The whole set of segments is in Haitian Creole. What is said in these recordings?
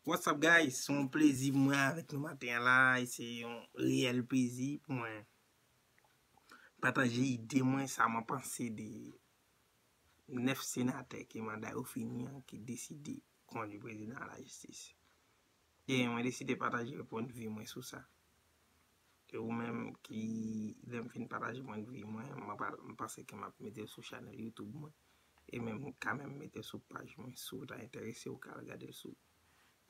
What's up guys, se yon plezi pou mwen avèk nou maten an la, e se yon reyèl plezi pou mwen pataje ide mwen, sa mwen panse de 9 senatè ke manda yo fini an, ki deside kondi prezidan a la jistis. E mwen deside pataje pwennvi mwen sou sa. E ou menm ki lè m fin pataje pwen de vi mwen, m panse ke m ap mete l sou chanèl YouTube mwen. E menm ou ka menm mete l sou paj mwen. Si w ta enterese ou ka al gade l sou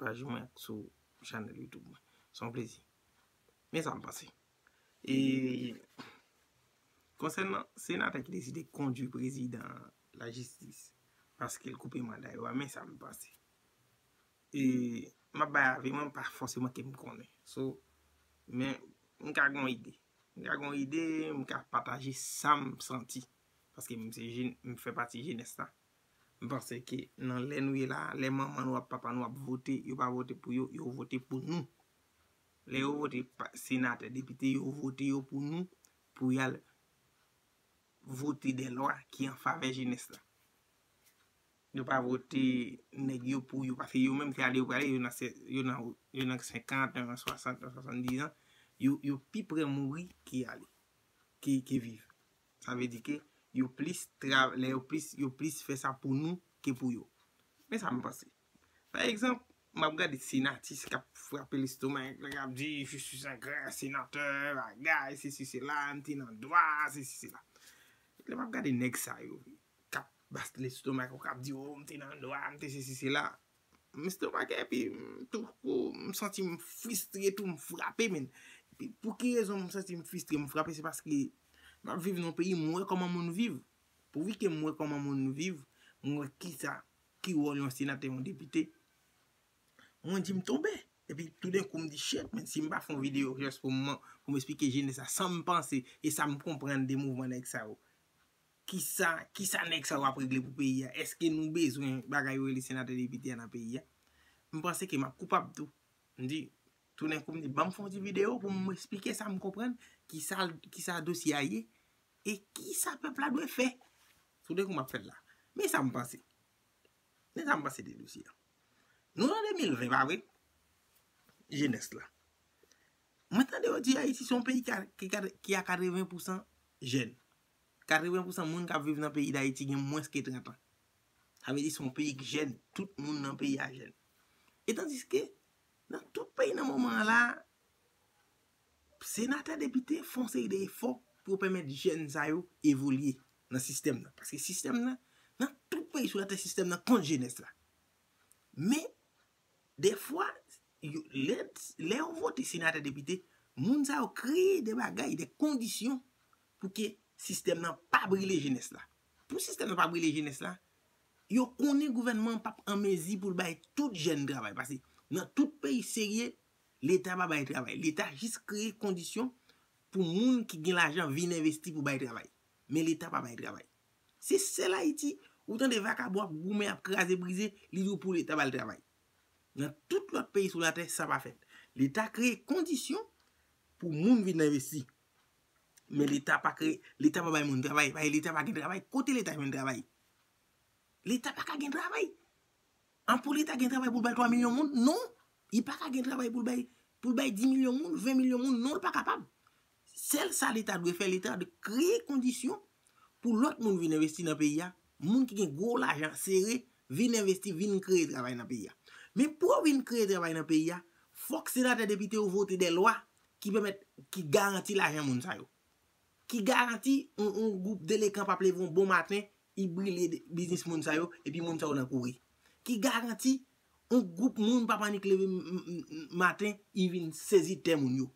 paj mwen ak sou chanèl YouTube mwen. Se yon plezi. Men sa m panse. E konsèn nan senatè ki deside kondui prezidan la jistis paske l koupe manda yo a men sa m panse. E map bay avi mwen pa fòseman kem konnen. So men m ka gon ide. M ka gon ide, m ka pataje sam santi. Paske m se jèn, m fè pati jenès la. M panse ke nan lè nou ye la, lè manman nou ak papa nou ap vote, yo pa vote pou yo, yo vote pou nou. Lè yo vote senatè, depite, yo vote yo pou nou, pou yal vote de lwa ki an favè jenès la. Yo pa vote neg yo pou yo pase yo menm se ale yo prale yo nan yo nan yo nan 50 yo nan 60 nan 70 ans yo yo pi prè mouri ke ale ke ke viv sa vle di ke yo plis tra lè yo plis yo plis fè sa pou nou ke pou yo men sa m panse pa egzanp m ap gade senatis k ap frape lestomak li k ap di je suis un grand senateur bagay sesi sela m te nan dwa sesi sela lè m ap gade nèg sa yo kap bas lestomak ou kap di oh m te nan dwa m te sesi sela m estomake epi tou kou m santi m fristre tou m frape men epi pou ki rezon m santi m fristre m frape se paske map viv nan peyi m wè kòman moun viv pouvi ke m wè kòman moun viv m wè kisa ki wòl yon senatè yon depite mwen di m tonbe epi toudenkou m di chet men si m pa fè yon video jès pou m esplike jenès la sam panse e sam konprann de mouvman nèg sa yo Kisa, kisa nèg sa yo ap regle pou peyi a? Eske nou bezwen bagay yo rele senatè depite a nan peyi a? M panse ke m ap koupab tou. M di, tounenkou m di banm fè yon ti videyo pou m esplike sa m konprann, kisa, kisa dosye a ye, e kisa pèp la dwe fè. Tounenkou m ap fè l la. Men sa m panse. Men sa m panse de dosye a. Nou nan 2020 pa vre? Jenès la. Mwen tande yo di Ayiti se yon peyi ki a 80 pousan jèn. 80 pousan moun kap viv nan peyi dayiti gen mwens ke 30 an. Sa vle di se yon peyi k jèn, tout moun nan peyi a jèn. E tandiske, nan tout peyi nan moman an la, senatè, depite fè yon seri de efò pou yo pèmèt jèn sa yo evolye nan sistèm nan. Paske sistèm nan, nan tout peyi sou latè sistèm nan kont jenès la. Men, defwa, lè yo vote senatè, depite, moun sa yo kreye de bagay, de kondisyon pou ke sistèm nan pa brile jenès la. Pou sistèm nan pa brile jenès la, yo konnen gouvènman an pap an mezi pou l bay tout jèn travay. Pase nan tout peyi serye, Leta pa bay travay. Leta jis kreye kondisyon pou moun ki gen lajan vin envesti pou bay travay. Men Leta pa bay travay. Se sèl Ayiti, ou tande vakabon ap goumen, ap kraze brize, li di w pou Leta ba l travay. Nan tout lòt peyi sou latè, sa pa fèt. Leta kreye kondisyon pou moun vin envesti. Men leta pa kreye, leta pa bay moun travay, paske leta pa gen travay. Kote leta jwenn travay? Leta pa ka gen travay. An pou leta gen travay pou l bay 3 milyon moun? Non! Li pa ka gen travay pou l bay, pou l bay 10 milyon moun, 20 milyon moun, non l pa kapab. Sèl sa leta dwe fè, leta dwe kreye kondisyon Pou lòt moun vin envesti nan peyi a, moun ki gen gwo lajan sere vin envesti, vin kreye travay nan peyi a. Men pou yo vin kreye travay nan peyi a, fòk senatè depite yo vote dè lwa ki pèmèt, ki garanti lajan moun sa yo. Ki garanti yon gwoup delekan p ap leve yon bon maten, y brile biznis moun sa yo, epi moun sa yo nan kouri. Ki garanti yon gwoup moun p ap annik leve maten, y vin sezi tè moun yo.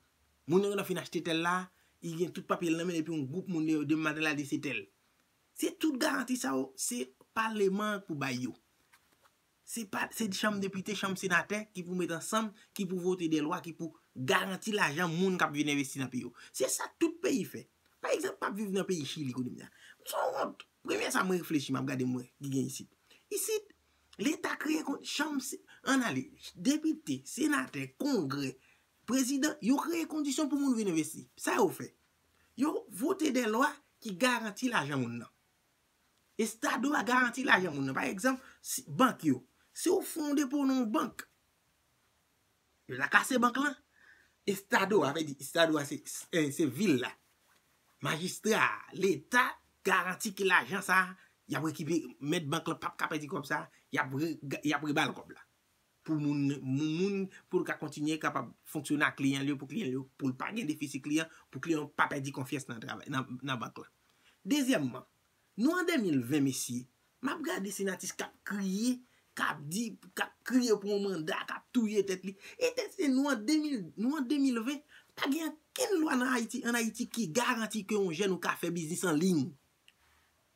Moun nan gentan fin achte tèl la, li gen tout papye l nan men l epi yon gwoup moun yo demande l al di se tèl. Se tout garanti sa yo, se paleman an k pou bay yo. Se pa, se chanm depite, chanm senatè ki pou met ansanm, ki pou vote de lwa ki pou garanti lajan moun k ap vin envesti nan peyi yo. Se sa tout peyi fè. Pa egzanp, m ap viv nan peyi Chili kounye a. M son wont. Premye sa mwen reflechi, m ap gade m wè ki gen isit. Isit, leta kreye kon, chanm, an ale, depite, senatè, kongrè, Prezidan, yo kreye kondisyon pou moun vin envesti. Sa yo fè? Yo vote de lwa ki garanti lajan moun nan. Estado a garanti lajan moun nan. Pa egzanp, bank yo. Si ou fè yon depo nan yon bank, yo ta kase bank lan. Estado a, estado a se vil la, majistra a, leta garanti ki lajan sa a, y ap rekipere, mèt bank lan p ap ka pèdi kòb sa a, y ap rebal kòb la. pou moun moun moun pou l ka kontinye kapab fonksyone ak kliyan l yo pou kliyan l yo pou l pa gen defisi kliyan pou kliyan yo pa pèdi konfyans nan travay nan bank la dezyèmman nou an 2020 mesye m ap gade se yon atis k ap kriye k ap di k ap kriye pou yon manda k ap touye tèt li e tèt se nou an 2000 nou an 2020 pa gen ankenn lwa nan ayiti an ayiti ki garanti ke yon jèn ou ka fè biznis an liy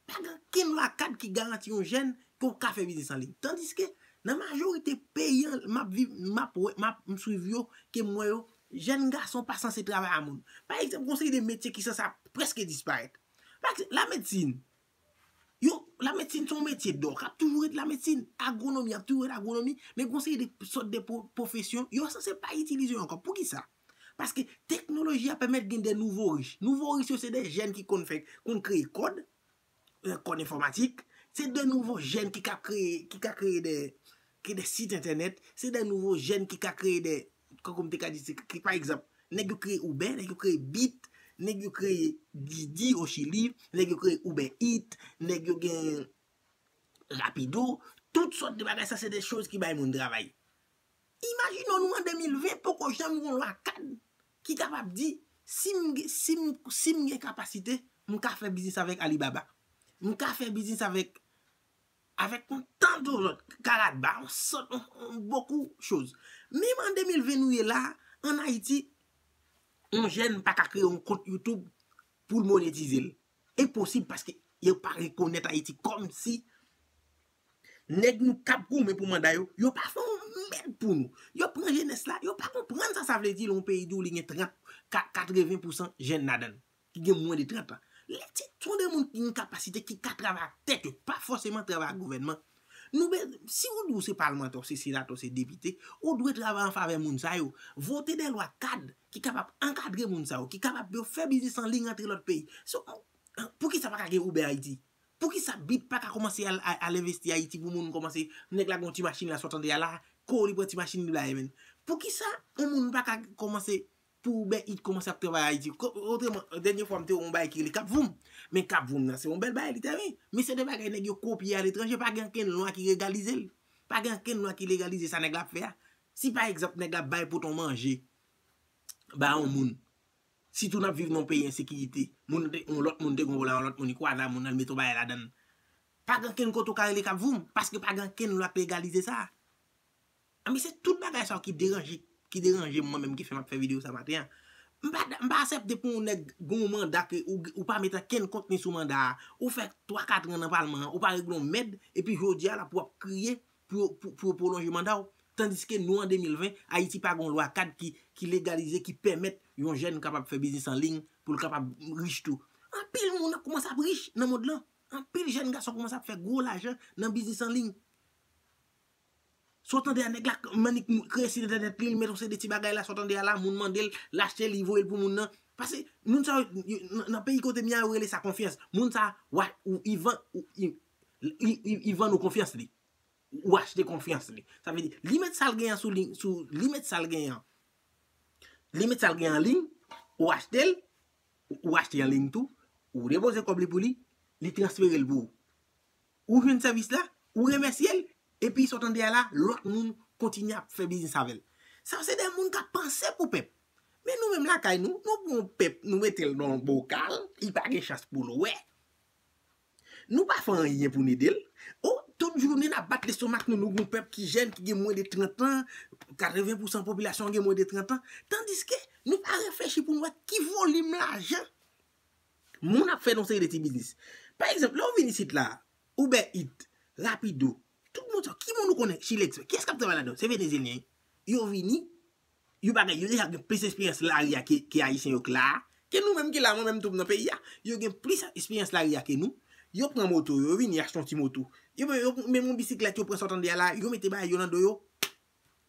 Pa gen okenn lwa kad ki garanti yon jèn ke ou ka fè biznis an liy. Tandiske, nan majorite peyi an m ap viv, m ap wè, m ap swiv yo, ke m wè yo, jèn gason pa sanse travay a moun. Pa egzanp, gen yon seri de metye ki sanse ap prèske disparèt. Pa egzanp, lamedsin. Yo, lamedsin se yon metye dò k ap toujou ret lamedsin. Agwonomi ap toujou ret agwonomi. Men gen yon seri de sòt de pwofesyon, yo sanse pa itilize yo ankò. Poukisa? Paske teknoloji a pèmèt gen de nouvo rich. Nouvo rich yo se de jèn ki konn fè, konn kreye kòd, kòd enfòmatik, se de nouvo jèn ki ka kreye, ki ka kreye de, kreye de sit entènèt, se de nouvo jèn ki ka kreye de, tankou m te ka di se, ki pa egzanp, nèg yo kreye Uber, nèg yo kreye Bit, nèg yo kreye Didi o Chili, nèg yo kreye Uber Eat, nèg yo gen Rapido, tout sòt de bagay sa se de choz ki bay moun travay. Imajine w nou an 2020 poko janm gen yon lwa kad ki kapab di si m gen kapasite m ka fè biznis avèk Alibaba, m ka fè biznis avèk yon tan do lòt, Karatba, yon sòt, yon bokou choz. Menm an 2020 nou ye la, an Ayiti, yon jèn pa ka kreye yon kont YouTube pou l monetize l. Enposib paske yo pa rekonèt Ayiti kòm si Nèg nou kap goumen pou manda yo, yo pa fè yon mèd pou nou. Yo pran jenès la, yo pa konprann sa sa vle di lè yon peyi di w li gen 30, 80 pousan jenn ladan l, ki gen mwen de 30 an. Lè ti ton de moun ki gen kapasite ki ka travay ak tèt yo, pa fòseman travay ak gouvènman. Nou be, si ou di w se palmantè, ou se senatè, ou se depite, ou dwe travay an favè moun sa yo. Vote dè lwa kad ki kapab ankadre moun sa yo, ki kapab yo fè biznis an liy rantre lòt peyi. Pou ki sa pa ka gen Uber Haiti? Poukisa bit paka komanse al envesti ayiti pou moun komanse nèg la gen yon ti machin la sot andeya la kou li pran ti machin li bay menn poukisa yon moun paka komanse pou uber eat komanse ap travay ayiti otreman dènye fwa m te wè yon bagay ki rele kapvoum men kapvoum nan se yon bèl bagay li te vin men se de bagay nèg yo kopye aletranje pa gen ankenn lwa ki regalize l pa gen ankenn lwa ki legalize sa nèg la ap fè a si pa egzanp nèg la bay poton manje ba yon moun Sitou nap viv nan yon peyi ensekirite. Moun te, yon lòt moun te gonvo la yon lòt moun li kwa zam moun nan li mete yon bagay ladann. Pa gen kenn kote ou ka rele kap voum paske pa gen kenn lwa k legalize sa. Anben se tout bagay sa yo ki deranje, ki deranjem mwen menm ki fè map fè video sa maten an. M pa da, m pa asèpte pou yon nèg gen yon manda ke ou gen, ou pa mete kenn kontni sou manda a. Ou fè 3 katran nan palman an, ou pa regle yon mèd epi jodi a la pou wap kriye pou yo pwolonje manda w, tandiske nou an 2020, Ayiti pa gen yon lwa kad ki legalize, ki pèmèt yon jèn kapab fè biznis an liy pou l kapab rich tou. Anpil moun ap koumanse ap rich nan mond lan, anpil jèn gason koumanse ap fè gwo lajan nan biznis an liy. Sa w tande a nèg la manik kreye sit entènèt li, li met yon seri de ti bagay la, sa w tande a la moun mande l, l achte l, li voye l pou moun nan. Pase moun sa yo, nan peyi kote m ye a yo rele sa konfyans. Moun sa a, Li vann ou konfyans li. Ou achte konfyans li. Sa vle di, li met sa l genyen sou li, li met sa l genyen an. Li met sa l genyen an liy, ou achte l, ou achte l an liy tou, ou depoze kòb li pou li, li transfere l pou ou. Ou jwenn sèvis la, ou remèsye l, epi sa w tande a la, lòt moun kontinye ap fè biznis avè l. Sa yo se de moun k ap panse pou pèp. Men nou menm lakay nou, nou pran yon pèp, nou mete l nan yon bokal, li pa gen chans pou l wè. Nou pa fè anyen pou n ede l. Oh, tout jounen n ap bat lestomak nou, nou gen yon pèp ki jèn, ki gen mwen de 30 an, 80 pousan popilasyon an gen mwen de 30 an, tandiske nou pa reflechi pou n wè ki volim lajan moun ap fè nan yon seri de ti biznis. Pa egzanp, lè ou vin isit la, Uber Eat, Rapido, tout moun sa yo, ki moun ou konnen, Chilex, kiyès k ap travay ladan l? Se Venezyelyen. Yo vini, Yo pa gen, yo deja gen plis esperyans lari a ke Ayisyen yo k la a, ke nou menm ki la a, mwen menm tou m nan peyi a. Yo gen plis esperyans lari a ke nou. Yo pran moto yo, yo vini achte yon ti moto. Yo menm, yo menm yon bisiklèt yo pran sa w tande a la, yo mete bagay yo nan do yo.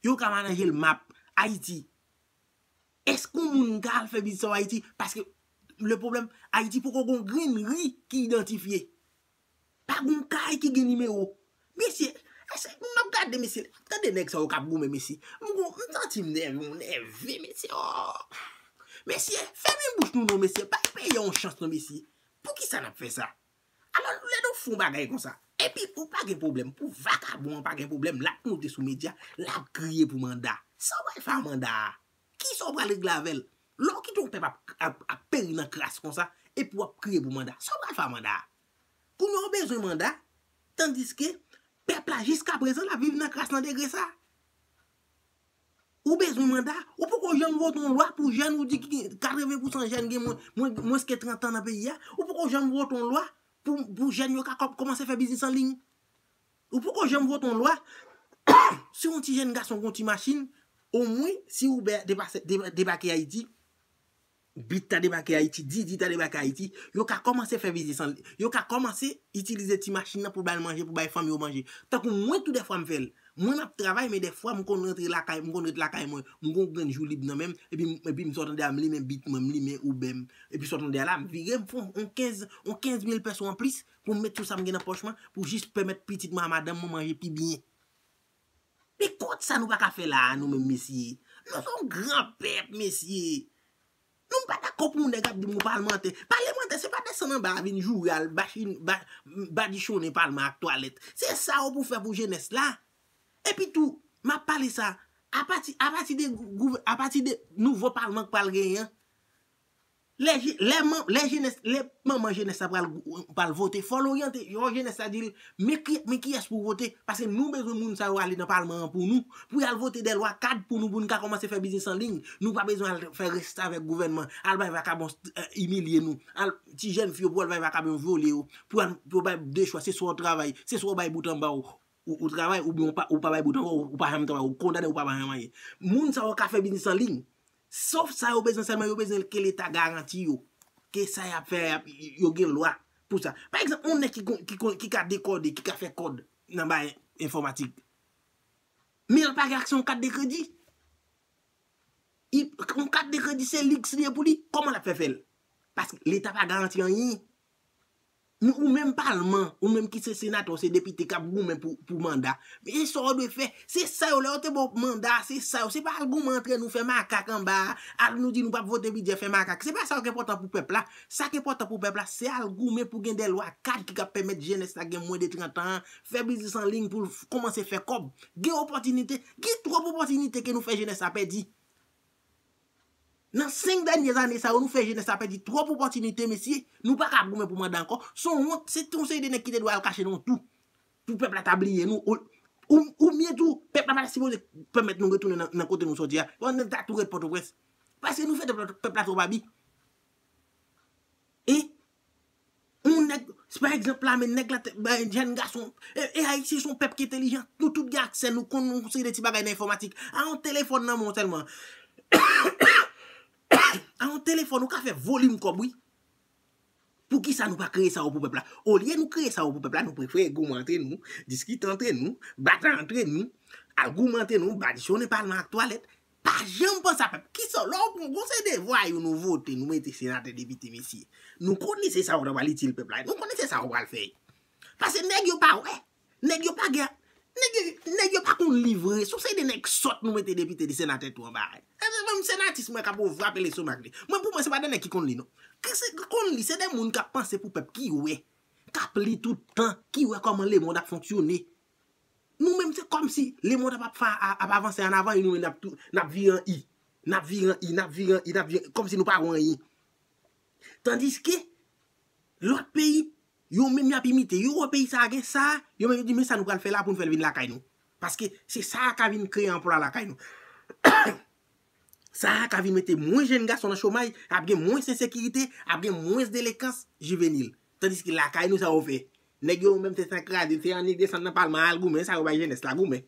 Yo ka mananje l map. Ayiti. Èske yon moun ka al fè biznis an Ayiti? Paske, le pwoblèm, Ayiti poko gen yon grenn ri ki idantifye. Pa gon kay ki gen nimewo. Mesye, ese, m ap gade mesye, tande nèg sa yo k ap goumen mesye. M gon, m santi m nève, m nève mesye oo. Mesye, fèmen bouch nou non mesye, bay peyi a yon chans non mesye. Poukisa n ap fè sa? Alò, lè nou fon bagay konsa, epi pou pa gen pwoblèm, pou vakabon an pa gen pwoblèm, l ap monte sou medya, l ap kriye pou manda. Sa w al fè a manda a? Kisa w pral regle avè l? Lè w kite yon pèp ap peri nan kras konsa, epi w ap kriye pou manda. Sa w pral fè a manda a? Kounye a w bezwen manda, tandiske pèp la jiskaprezan l ap viv nan kras nan degre sa a. Ou bezwen manda, ou poko janm vote yon lwa pou jèn ou di ki gen 80 pousan jèn gen mwens ke 30 an nan peyi a. Ou poko janm vote yon lwa pou jèn yo ka kòmanse fè biznis anliy. Ou poko janm vote yon lwa si yon ti jenn gason gen yon ti machin omwen si Uber debake Ayiti, Bitt ta debake Ayiti, Didi ta debake Ayiti, yo ka kòmanse fè biznis anliy. Yo ka kòmanse itilize ti machin nan pou ba l manje, pou bay fanmi yo manje. Tankou mwen tou dèfwa m fè l. Mwen m ap travay men dèfwa m konn rantre lakay, m konn ret lakay mwen, m gen yon grenn jou lib nan men m, epi m epi m sot andeya m limen Bitt mwen, m limen Uber m. Epi sot andeya la, m vire m fon yon kenz yon kenz mil pèso anplis pou m met tout sa m gen nan pòch mwen pou jis pèmèt pitit mwen a madanm mwen manje pi byen. Men kont sa nou pa ka fè la a nou menm mesye. Nou se yon gran pèp mesye. Nou m pa dakò pou yon nèg ap di m yon palmantè. Palemantè se pa desann anba a vin joure al badichonnen palman ak twalèt. Se sa yo pou fè pou jenès la. Epi tou, m ap pale sa, apati de nouvo palman k pral genyen an, Lè je lè man lè jenès lè manman jenès la pral pral vote fòl oryante fò jenès la dil men ki men kiyès pou vote paske nou bezwen moun sa yo ale nan palman an pou nou pou yal vote dè lwa kad pou nou pou nou ka kòmanse fè biznis an liy nou pa bezwen al fè restavèk gouvènman al bay vakabon imilye nou al ti jèn fi yo pou al bay vakabon vyole yo pou al pou yo bay de chwa se swa ou travay se swa ou bay bout anba w ou travay oubyen ou pa bay bout anba w ou pa janm travay ou kondane ou pa janm anyen moun sa yo ka fè biznis an liy Sof sa yo bezwen sèlman yo bezwen ke leta garanti yo ke sa yap fè a yo gen lwa pou sa. Pa egzanp yon nèg ki ka dekode, ki ka fè kòd nan bagay enfòmatik men l pa gen aksè yon kat de kredi. Yon kat de kredi se liks li ye pou li, kòman lap fè fè l? Paske leta pa garanti anyen. Men ou menm palman, ou menm ki se senatè ou se depite kap goumen pou manda, men e sa ou dwe fè, se sa yo lè yo te ba w manda a se sa yo, se pa al goumen antre nou fè makak anba a, al nou di nou pap vote bidjè fè makak, se pa sa yo ki enpòtan pou pèp la, sa ki enpòtan pou pèp la se al goumen pou gen de lwa kad ki kap pèmèt jenès la gen mwen de 30 an an fè biznis an liy pou l kòmanse fè kòb, gen opòtinite, gen twòp opòtinite ke nou fè jenès la pèdi. Nan 5 dènye zane sa yo nou fè jenès la pèdi twòp opòtinite mesye, nou pa ka goumen pou manda ankò, son wont, se ton seri de nèg ki te dwe al kache nan yon tou pou pèp la ta bliye nou ou byen tou pèp la pa ta sipoze pèmèt nou retounen nan kote nou sòti a, fò nèg ta tou ret pòtoprens paske nou fè tèt pèp la twòp abi. On nèg, se pa egzanp la men nèg la te bay jèn gason, e Ayisyen son pèp ki entelijan, nou tout gen aksè, nou konn yon seri de ti bagay nan enfòmatik. A yon telefòn nan men w sèlman, a yon telefòn ou ka fè volim kòb wi. Poukisa nou pa kreye sa yo pou pèp la? Olye nou kreye sa yo pou pèp la, nou prefere goumen antre nou, diskite antre nou, batay antre nou, al goumen antre nou, badichonnen palman ak twalèt. Pa janm panse a pèp. Kisa w lè w pran gon seri de vwayou nou vote nou mete senatè depite mesye. Nou konnen se sa yo ta pral itil pèp la e nou konnen se sa yo pral fè. Pase nèg yo pa wè. Nèg yo pa gen nèg yo nèg yo pa konn li vre. Son seri de nèg sòt nou mete depite de senatè tou anba a. Eske menm senatis mwen kap ou vrape lestomak li. Mwen pou mwen se pa de nèg ki konn li non. Ke se ki konn li se de moun kap panse pou pèp ki wè. Kap li tout tan ki wè kòman lemond ap fonksyone. Nou menm se kòm si le mond ap ap avanse an avan e nou menm nap tou nap vire an i. Nap vire an i, nap vire an i, nap vire an i, kòm si nou pa wè anyen. Tandiske, lòt peyi, yo menm yap imite. Yo wè peyi sa a gen sa, yo menm yo di men sa nou pral fè la pou nou fè l vin lakay nou. Paske se sa a ka vin kreye anplwa lakay nou. Sa a ka vin mete mwens jenn gason nan chomaj, ap gen mwens ensekirite, ap gen mwens delekans jivenil. Tandiske lakay nou sa yo fè. Nèg yo menm tèt an kraze se annik desann nan palman al goumen sa yo bay jenès la goumen.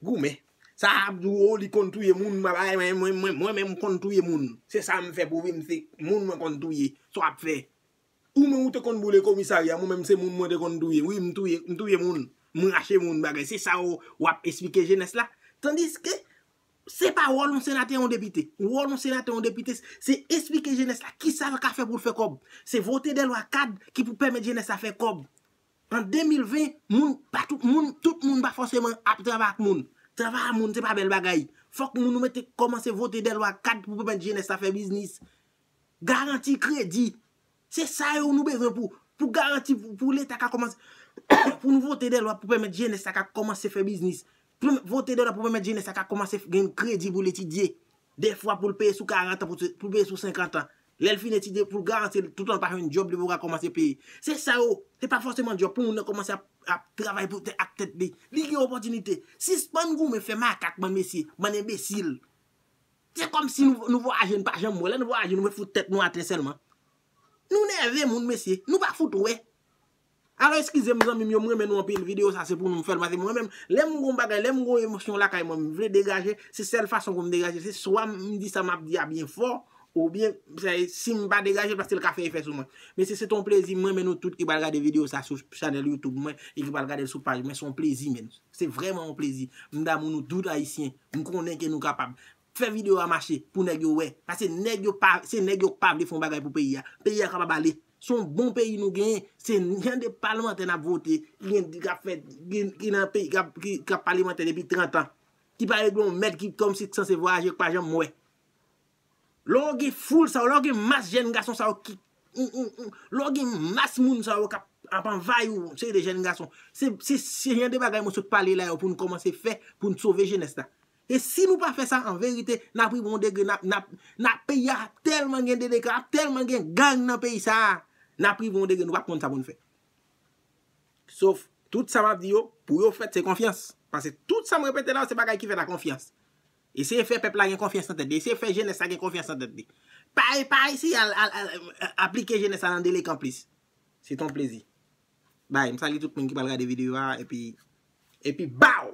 Goumen. Sa ap di ou oh li konn touye moun mwen menm konn touye moun. Se sa m fè pou viv m se moun mwen konn touye. Sa w ap fè. Ou menm ou te konn boule komisarya mwen menm se moun mwen te konn touye wi m touye moun m rache moun bagay se sa w ap esplike jenès la. Tandiske. Se pa wòl yon senatè, yon depite. Wòl yon senatè, yon depite, se esplike jenès la ki sa l ka fè pou l fè kòb. Se vote dè lwa kad ki pou pèmèt jenès la fè kòb. An 2020, moun pa tout moun, tout moun pa fòseman ap travay ak moun. Travay a moun se pa bèl bagay. Fòk moun nou mete kòmanse vote dè lwa kad pou pèmèt jenès la fè biznis. Garanti kredi. Se sa yo nou bezwen pou pou garanti pou leta ka kòmanse pou nou vote de lwa pou pèmèt jenès la ka kòmanse fè biznis. Pou nou vote de lwa pou pèmèt jenès la ka kòmanse gen kredi pou l etidye. De fwa pou l peye sou karantan, pou l peye sou senkantan. Lè l fin etidye pou l garanti l toutan l pa jwenn djòb li pou l ka kòmanse peye. Se sa yo. Se pa fòseman djòb pou moun nan kòmanse ap travay pou ak tèt li. Li gen opòtinite. Sispann goumen fè makak bann mesye, bann enbesil. Se kòmsi nou vwayaje nou pa janm wè, lè nou vwayaje nou wè fout tèt nou atè sèlman. Nou nève moun mesye, nou pa fout wè. Alò eskize m zanmi m yo m renmen nou anpil video sa se pou nou m fè l paske mwen menm lè m gon bagay lè m gon emosyon lakay mwen m vle degaje se sèl fason pou m degaje se swa m di sa m ap di a byen fò oubyen si m pa degaje l paske l ka fè efè sou mwen mesye se te yon plezi m renmen nou tout ki pral gade video sa sou chanèl youtube mwen e ki pral gade l sou paj mwen se yon plezi menn se vrèman yon plezi m damou nou tout ayisyen. M konnen ke nou kapab. Fè video a mache pou nèg yo wè. Paske nèg yo pa, se nèg yo k pa vle fè yon bagay pou peyi a. Peyi a kapab ale. Se yon bon peyi nou genyen. Se jan de palmantè n ap vote, ki gen, ki ap fè, ki nan peyi, k ap palemantè depi 30 an. Ki pa regle yon mèd ki kòmsi k sanse vwayaje, k pa janm wè. Lè w gen foul sa yo, lè w gen mas jèn gason sa yo ki lè w gen mas moun sa yo k ap anvayi w, yon seri de jèn gason, se jan de bagay mwen sot pale la yo pou nou kòmanse fè pou nou sove jenès la. E si nou pa fè sa, an verite, n ap rive yon degre, n ap peyi a ap tèlman gen deleka, ap tèlman gen gang nan peyi sa a, n ap rive yon degre nou pap konn sa pou nou fè. Sof, tout sa m ap di yo, pou yo fèt se konfyans. Pase tout sa m repete la yo se bagay ki fèt a konfyans. Eseye fè pèp la gen konfyans nan tèt li. Eseye fè jenès la gen konfyans nan tèt li. Pa eseye al aplike jenès la nan delekan plis. Se te yon plezi. Bye. M salye tout moun ki pral gade videyo a epi epi baww!